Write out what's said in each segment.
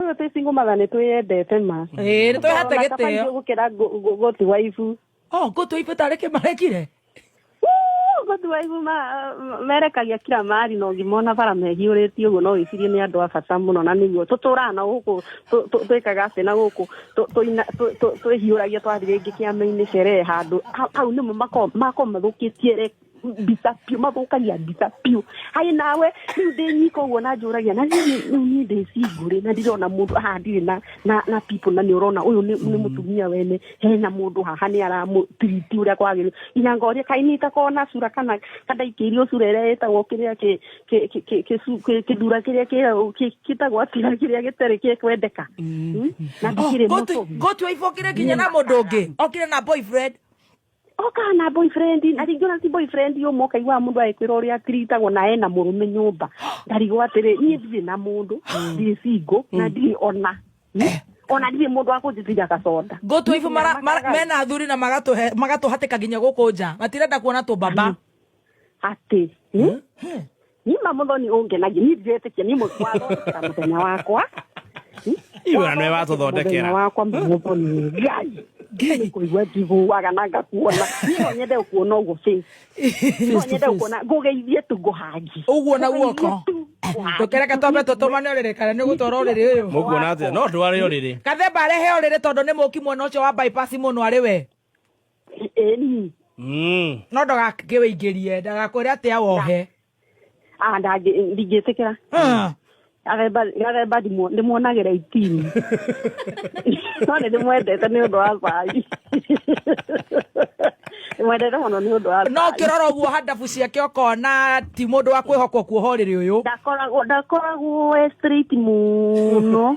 Tũyũ twĩ single mother nĩ twĩyendete ma. Ĩĩ, nĩ twĩhete Ona kabari gĩtĩo. gũkĩra ngũ- ngũ- gũtu wa ibu. Oh, ngũtũ ibu tarĩ kĩmarekire. Wuu, Gũtu wa ibu ma- merekagia kira mari na ũngĩ mona bara mehiũrĩtie ũguo no wĩcirie nĩ andũ a bata mũno na nĩguo tũtũraga na gũkũ tũ- tũ- twĩkaga atĩ na gũkũ tũ- tũina- tũ- tũ- twĩhiũragia twathiĩ rĩngĩ kĩama-inĩ sherehe handũ hau- hau nĩmo mako- makoragwo mathũkĩtie re- mbica biũ mathũkagia mbica biũ haĩ nawe rĩu ndĩ nyika ũguo na njũragia na rĩu niĩ ndĩ cingũrĩ na ndirona mũndũ haha ndirĩ na na na people na nĩ ũrona ũyũ nĩ nĩ mũtumia wene hena mũndũ haha nĩ aramũtiriti ũrĩa kwagĩrĩru ina ngoria kaĩ nĩ itakorwo na cura kana kandaikĩirio cura ĩrĩa ĩtagwo kĩrĩa kĩ- kĩ- kĩ- kĩ- kĩcu- kĩ- kĩthura kĩrĩa kĩ- kĩ- kĩtagwo atira kĩrĩa gĩtarĩ kĩ kwendeka Mm? na ndikĩrĩ mũtũmi ngũtua ibokire nginya na mũndũ ũngĩ okire na boyfriend oka na boyfriend na rĩngĩ ona ti boyfriend ũmwe ũkaiguaga mũndũ agĩkwĩra ũrĩa atiritagwo na ena mũrũme nyũmba ndarigwo atĩrĩ niĩ ndirĩ na mũndũ ndirĩ singo na ndirĩ ona ona ndirĩ mũndũ wa kũnjĩtĩria gaconda ngũtwa ibu mara- mara- mena athuri na magatũhe- magatũhatĩka nginya gũkũ nja matirenda kuona tũmbamba atĩ nima muthoni ungenagia ni njetekia ni mutwathondekera muthenya wakwa iwe nwe watuthondekera wakwa muthoni ngai ngai kuigua njiguaga na ngakuona no nyende kuona uguo face no nyende kuona ngugeithie tu nguhangi uguo na guoko tukereke twambe tutumane uriri kana ni gutwara uriri uyu mukuona atia no tware uriri kathemba arehe uriri tondu ni muki mwena ucio wa bypass muno ari we Mm. no ndagakĩ wĩingĩrie ndagakwĩre atĩ awohe Ah, ndangĩ- ndingĩtĩkĩra Ah. gathemba gathemba ndimu- ndĩmuonagĩra itini no nĩ ndĩmwendete nĩ ũndũ wa cai ndĩmwendete mũno nĩ ũndũ wa no cai. kĩrora ũguo handabu ciake ũkona ti mũndũ wa kwĩhokwo kuohorĩrĩ ũyũ ndakoragwo ndakoragwo e straight mũno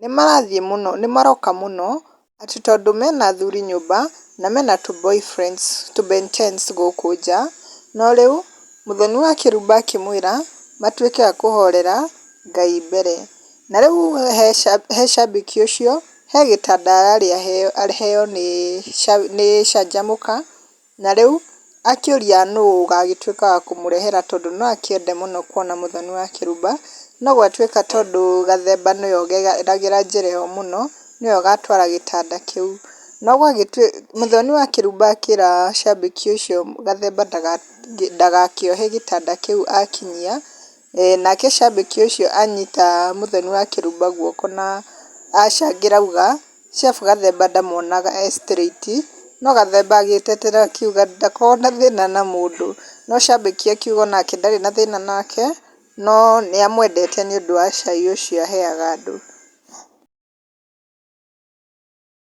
nĩmarathiĩ mũno nĩmaroka mũno atĩ tondũ mena athuri nyũmba na mena tũ boyfriends tũ Ben tens gũkũ nja, no rĩu mũthoni wa kĩrumba akĩmwĩra matuĩke a kũhorera Ngai mbere, na rĩu he shabiki ũcio he gĩtanda ararĩ aheo nĩ canjamũka. Na rĩu akĩũria nũũ ũgaagĩtuĩka wa kũmũrehera tondũ no akĩende mũno kuona mũthoni wa kĩrumba, no gwatuĩka tondũ Gathemba nĩwe ũgeragĩra njĩra ĩyo mũno, nĩwe ũgatwara gĩtanda kĩu. No gwagĩtuĩka, mũthoni wa kĩrumba akĩra cambĩki ũcio Gathemba ndagakĩohe gĩtanda kĩu akinyia. Nake cambĩki ũcio anyita Muthoni wa Kĩrumba guoko na acangĩra auga, Chef Gathemba ndamonaga e straight. No Gathemba agĩtetera akiuga ndakoragwo na thĩna na mũndũ. No cambĩki akiuga o nake ndarĩ na thĩna nake, no nĩ amwendete nĩ ũndũ wa cai ũcio aheaga andũ.